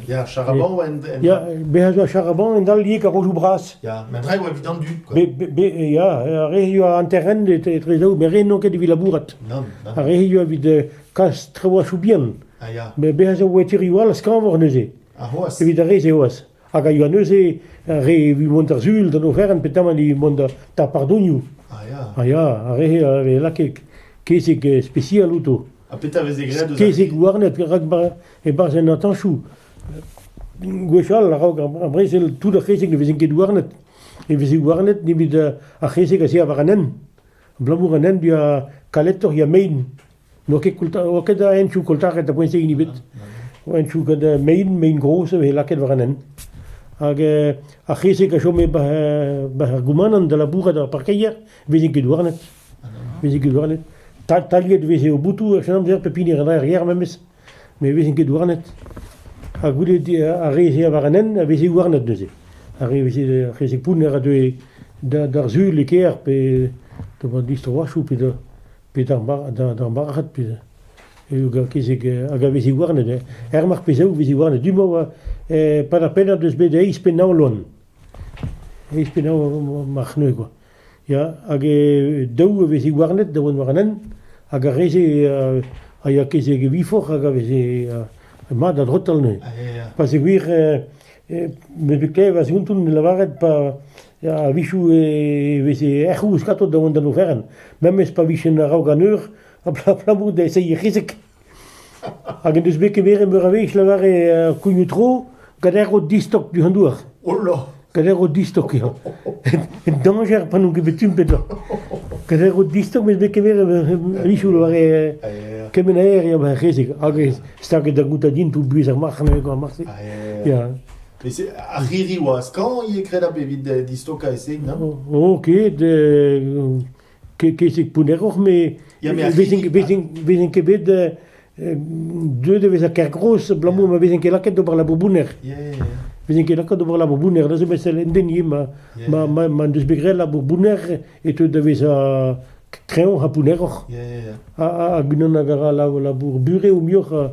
Ya, Charaban en... en- Ya, bezañ zo Charaban en dal liek ar rodoù bras. Ya, met draoù evit an dud, quoi. Be, be, be, ya, ar re hizio a hanterent etre daou, met re n'on ket evit labourat. Nann, nann. Ar re hizio evit eh, kas traoù soù bihan. Ah, ya. Mais bezañ zo oe tirioù all a skañvor neuze. Ha c'hoazh. Evit ar re-se c'hoazh. hag a yoa neuze re evit mont d'ar sul d'an oferenn petamant evit mont d'ar pardonioù. Ah ya. Ah ya, ar re a vez lakaet kezeg spesial outo. Ha petra a veze graet eus Kezeg houarnet rak e-barzh en atañchoù. Gwechall, a-raok ar brezel, tout ar c'hezeg ne vezent ket houarnet. Ne veze houarnet nemet ar c'hezeg a se war an hent. Abalamour an hent, ya kaletoc'h, ya mein. N'oa ket koulta- oa ket a hentioù koultaret a-bouez hini ebet. Oa hentioù gant eh, mein, mein gozh a veze lakaet war an hent. Hag eh, ar c'hezeg a chome bah eh, bah ar goumanant da labourat er parkeier, veze ket douarnet. Veze ket douarnet. Ta- Taliet veze o boutoù en amzer pep hini en arrière memes, met veze ket douarnet. Ha goude di- ar re-se war an hent a veze ouarnet neuze. Ar re veze ar c'hezeg pounner a deue da- d'ar sul e kêr pe pe ba distro-achoù pe da Pet ar marc'had hag a vez iwerzhet er marteze vez iwerzhet du-mañ pad ar pennad eus bet eizh pennañ loen eizh pennañ mar c'hneuz kwa ya hag daou a vez iwerzhet da vont war an hent hag ar re-se a ya kezeg e viforc'h hag a vez mat a drotal neuze pa zegouezh me 'vez klevet va skountoù ne lavaret pa Ya, a-wechoù e veze erc'h ouzh gato da vont d'an oferenn, memes pa vijen a-raok an eur, abalamour da eseiñ rezek. Hag en deus bet kemeret meur a wech lavare uh, kougnoù-tro gader o distok du an douar. Ola! Gader o distok eo. En dañjer pa n'on ket bet tumpet da. Gader o distok mes bet kemeret a-wechoù lavare uh, kement aer eo rezek hag staget da goûtañ din pou buhez ar marc'h, ar marc'h-se. Ya. Met ar c'hirri oa skañv ivez graet ab evit distokañ e seg, na? Ok, kesek pounneroc'h, met vezin ket bet deuet da vezañ ker gros abalamour ma vezin ket lakaet d'ober labour bounner. Vezin ket lakaet d'ober labour bounner, da zo bet sell endeni ma deus bet graet labour bounner e teu da vezañ kreñv ha pounneroc'h. Hag unan a gara labour bure o muioc'h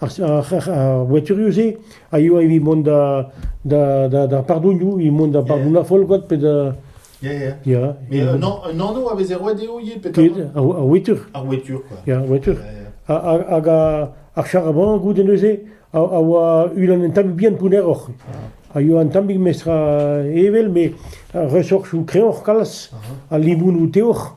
ar voiturioù-se a yoa evit mont d'ar pardonioù, evit mont da bardouna folgot pe da... Ya, ya. Ya. Mais un, un anv a veze roet dezho ivez peut-être Ar wetur. Ar wetur, quoi. Ya, wetur. Hag ar charaban, goude neuze, a, a oa unan un tammig bihan pounneroc'h. A yoa un tammig mestra evel, mais resorchou kreoc'h kalz, a libounou teoc'h.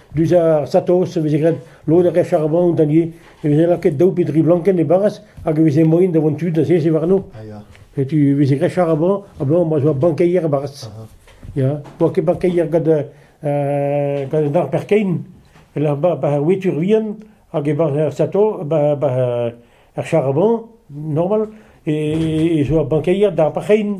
Dus ar satos e veze graet lod a referamant ivez, e veze lakaet daou pe dri blankenn e-barzh hag e veze moaien da vont tud da seziñ warno. Ah, ya. E tu e veze grechañ amañ, ma zo bankeier e-barzh. Ya, n'oa ket bankeier gant uh, gant an arper kein, e-lec'h ba, ba wetur vihan, hag e-barzh ar sato, ba, ba ar charabant, normal, e, e zo ur bankeier d'ar parchein.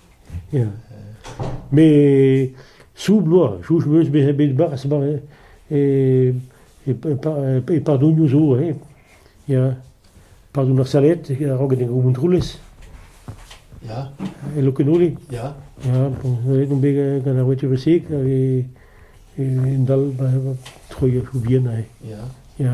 Ya, met soub bloaz, soubj 'm eus bezañ bet 'barzh e e padonioù zo hein, ya, padon ar saled a-raok en o Montroulez, Ya, e Lokenole, ya, ya, bon, aet on bet gant ar voiture sek hag en dal troiñ ar choubien aze, ya. ya.